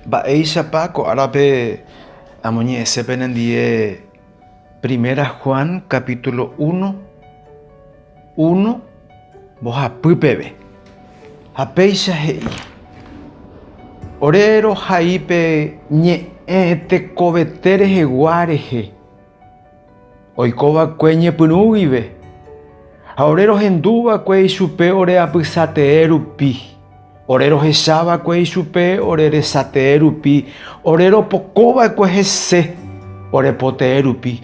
Mba'éichapa ko árape amoñe'ẽse penendie Primera Juan capítulo uno, uno mbohapy peve. Ha péicha he'i, Ore rohai pe ñe'ẽ tekovete rehegua rehe. Oiko va'ekue ñepyrũ guive, ha ore rohendu va'ekue ichupe ore apysatee rupi, ore rohecha va'ekue ichupe ore resatee rupi, ore ropoko va'ekue hese ore potee rupi,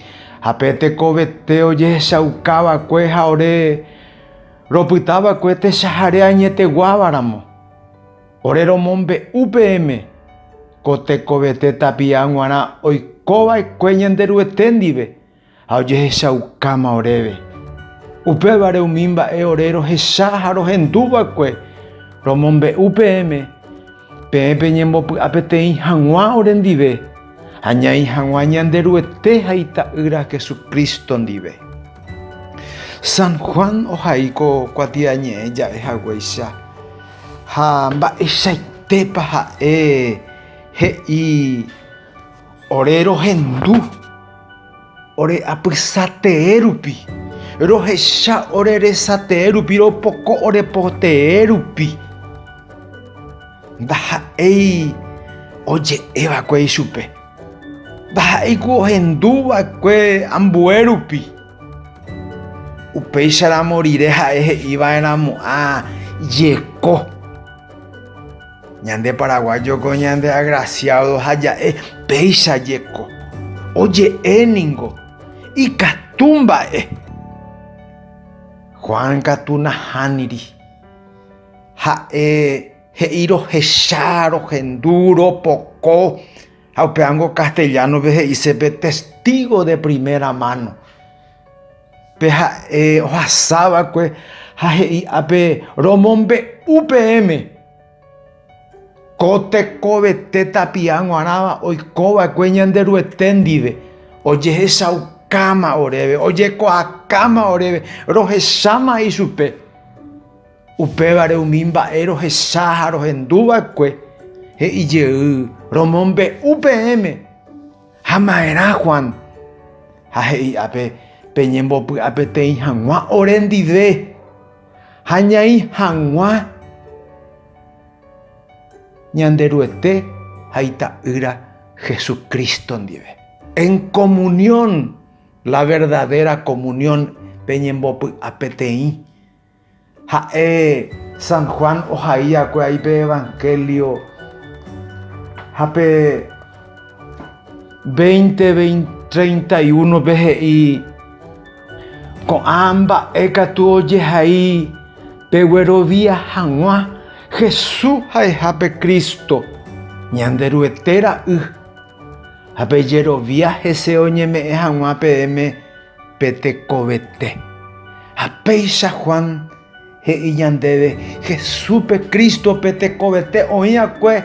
ha pe tekovete ojehechauka va'ekue ha ore ropyta va'ekue techahare añeteguáva ramo. Ore romombe'u peẽme, ko tekovete tapi'a g̃uarã oiko va'ekue Ñanderuete ndive ha ojehechaukáma oréve. Upévare umi mba'e ore rohecha ha rohendu va'ekue, romombe'u peẽme, peẽ peñembopy'a peteĩ hag̃ua ore ndive, añai hag̃ua Ñanderuete ha Ita'ýra Jesucristo ndive. San Juan ohai ko kuatiañe'ẽ ja'e haguéicha. Ha mba'eichaitépa ha'e he'i ore rohendu ore apysa tee rupi, rohecha ore resa tee rupi, ropoko ore po tee rupi? Ndaha'éi oje'e va'ekue ichupe, ndaha'éi ku ohendu va'ekue ambue rupi. Upéicharamo rire ha'e he'i va'erãmo'ã jeko. Ñande paraguayo ko ñande agraciado ha ja'e péicha jeko. Oje'e ningo ikatu mba'e. Juan katu nahániri. Ha'e he'i rohecha, rohendu, ropoko. Ha upévango castellano-pe he'ise pe testigo de primera mano, pe ha'e ohasa va'ekue ha he'i ápe, Romombe'u peẽme ko tekovete tapia guarãva oiko va'ekue Ñanderuete ndive, ojehechaukáma oréve, ojekuaakáma oréve, rohecháma ichupe. Upévare umi mba'e rohecha ha rohendu va'ekue he'i jey romombe'u peẽme, Ha'ma'erã Juan, ha he'i'a pe peñembopy'a peteĩ hag̃ua ore ndive, ha ñaĩ hag̃ua Ñanderuete ha Ita'ýra Jesucristo ndive. En comunión, la verdadera comunión peñembopy'a peteĩ. Ha'e San Juan ohaíakue ai pe Evangelio ha pe veinte treinta y unope he'i ko'ã mba'e katu ojehai pe guerovia hag̃ua Jesús ha'eha pe Cristo, Ñanderuete Ra'y. Ha pejerovia hese oñeme'ẽ hag̃ua peẽme Pe tekovete. Ha péicha Juan he'i ñandéve Jesúspe Cristo pe tekovete oĩ'akue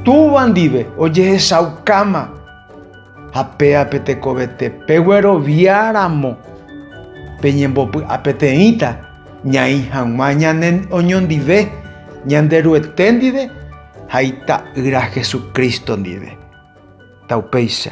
Túva ndive ojehechaukáma. Ha péa pe tekovete peguerovia ramo peñembopy'apeteĩta ñaĩ hag̃ua ñane oñondive Ñanderuete ndive ha Ita'ýra Jesucristo ndive. Taupéicha.